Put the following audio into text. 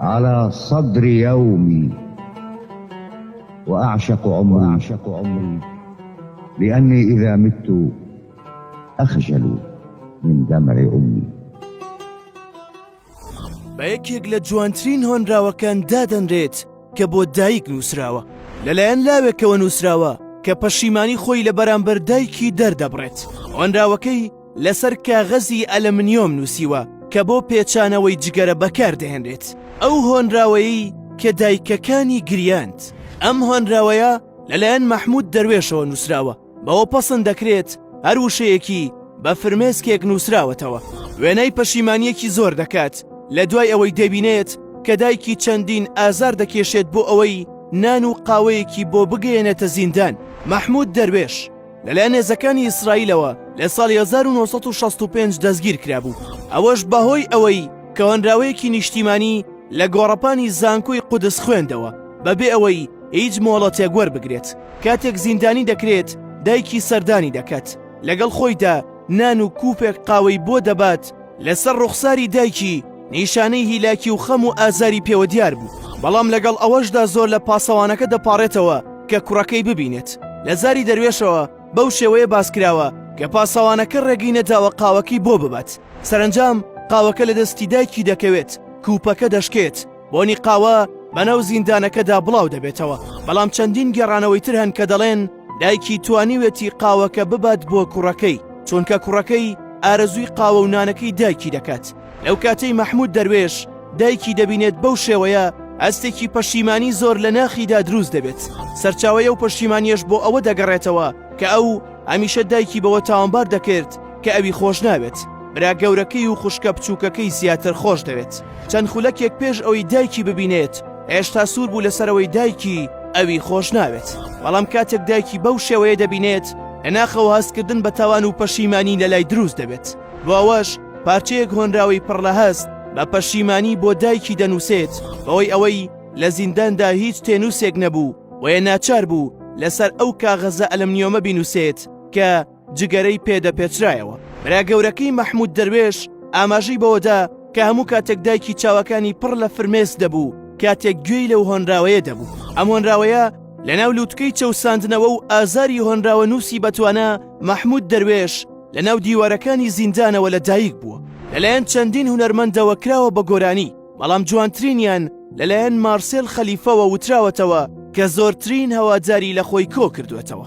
علی صدر یومی و اعشق عمری لانی اذا مت اخجل من دمع امی. بە یەکێک لە جوانترین هۆنراوەکان دادەنرێت کە بۆ دایک نووسراوە لەلایەن لاوێکەوە نووسراوە کە پەشیمانی خۆی لە بەرامبەر دایکی دەردەبڕێت هۆنراوەکەی لەسەر کاغەزی ئەلەمنیۆم نووسیوە کە بۆ پێچانەوەی جگەرە بەکاردەهێنرێت ئەو هۆنراوەیەی کە دایکەکانی گریاند ئەم هۆنراوەیە لەلایەن مەحمود دەروێشەوە نووسراوە بەوە پەسند دەکرێت هەر وشەیەکی بە فرمێسکێک نووسراوەتەوە وێنای پەشیمانیەکی زۆر دەکات لە دوای ئەوەی دەبینێت کە دایکی چەندین ئازار دەکێشێت بۆ ئەوەی نان و قاوەیەکی بۆ بگەیەنێتە زیندان مەحمود دەروێش لەلایەن هێزەکانی ئیسرائیلەوە لە ساڵی 1965 دەستگیر کرابوو ئەوەش بەهۆی ئەوەی کەوەنراوەیەکی نیشتیمانی لە گۆڕەپانی زانکۆی قودس خوێندەوە بەبێ ئەوەی هیچ مۆڵەتێک وەربگرێت کاتێک زیندانی دەکرێت دایکی سەردانی دەکات لەگەڵ خۆیدا نان و کوپێک قاوەی بۆ دەبات لەسەر ڕوخساری دایکی نیشانەی هیلاکی و خەم و ئازاری پێوە دیار بوو بەڵام لەگەڵ ئەوەشدا زۆر لە پاسەوانەکە دەپاڕێتەوە کە کوڕەکەی ببینێت لە زاری دەروێشەوە بەو شێوەیە باسکراوە کە پاسەوانەکە ڕێگەی نەداوە قاوەکەی بۆ ببات سەرنجام قاوەکە لە دەستی دایکی دەکەوێت کوپەکە دەشکێت بۆنی قاوە بەناو زیندانەکەدا بڵاو دەبێتەوە بەڵام چەندین گێڕانەوەی تر هەن کە دەڵێن دایکی توانیوێتی قاوەکە ببات بۆ کوڕەکەی چونکە کوڕەکەی ئارەزووی قاوە و نانەکەی دایکی دەکات لەو کاتەی مەحمود دەروێش دایکی دەبینێت بەو شێوەیە ئەستێکی پەشیمانی زۆر لە ناخیدا دروست دەبێت سەرچاوەیە و پەشیمانیش بۆ ئەوە دەگەڕێتەوە کە ئەو هەمیشە دایکی بەوە تاوانبار دەکرد کە ئەوی خۆش ناوێت برا گەورەکەی و خوشکە بچووکەکەی زیاتر خۆش دەوێت چەند خولەکێک پێش ئەوەی دایکی ببینێت هێشتا سوور بوو لەسەرەوەی دایکی ئەوی خۆش ناوێت بەڵام کاتێک دایکی بەو شێوەیە دەبینێت لەناخەوە هەستکردن بە تاوان و پەشیمانی لە لای دروست دەبێت بۆ ئەوەش پارچەیەک هۆنراوی پڕ لە هەست بە پەشیمانی بۆ دایکی دەنووسێت بەوەی ئەوەی لە زینداندا هیچ تێنووسێک نەبوو بۆیە ناچار بوو لەسەر ئەو کاغەزە ئەلمنیۆمە بینوسێت کە جگەرەی پێدەپێچرایەوە برا گەورەکەی مەحمود دەروێش ئاماژەی بەوەدا کە هەموو کاتێک دایکی چاوەکانی پڕ لە فرمێس دەبوو کاتێک گوێی لەو هۆنراوەیە دەبوو ئەم هۆنراوەیە لەناو لووتکەی چەوساندنەوە و ئازاری هۆنراوە نووسی بەتوانە مەحمود دەروێش لەناو دیوارەکانی زیندانەوە لە دایک بووە لەلایەن چەندین هونەرمەندەوە کراوە بە گۆرانی بەڵام جوانترینیان لەلایەن مارسێل خەلیفەوە وتراوەتەوە کە زۆرترین هەواداری لە خۆی کۆ کردوێتەوە.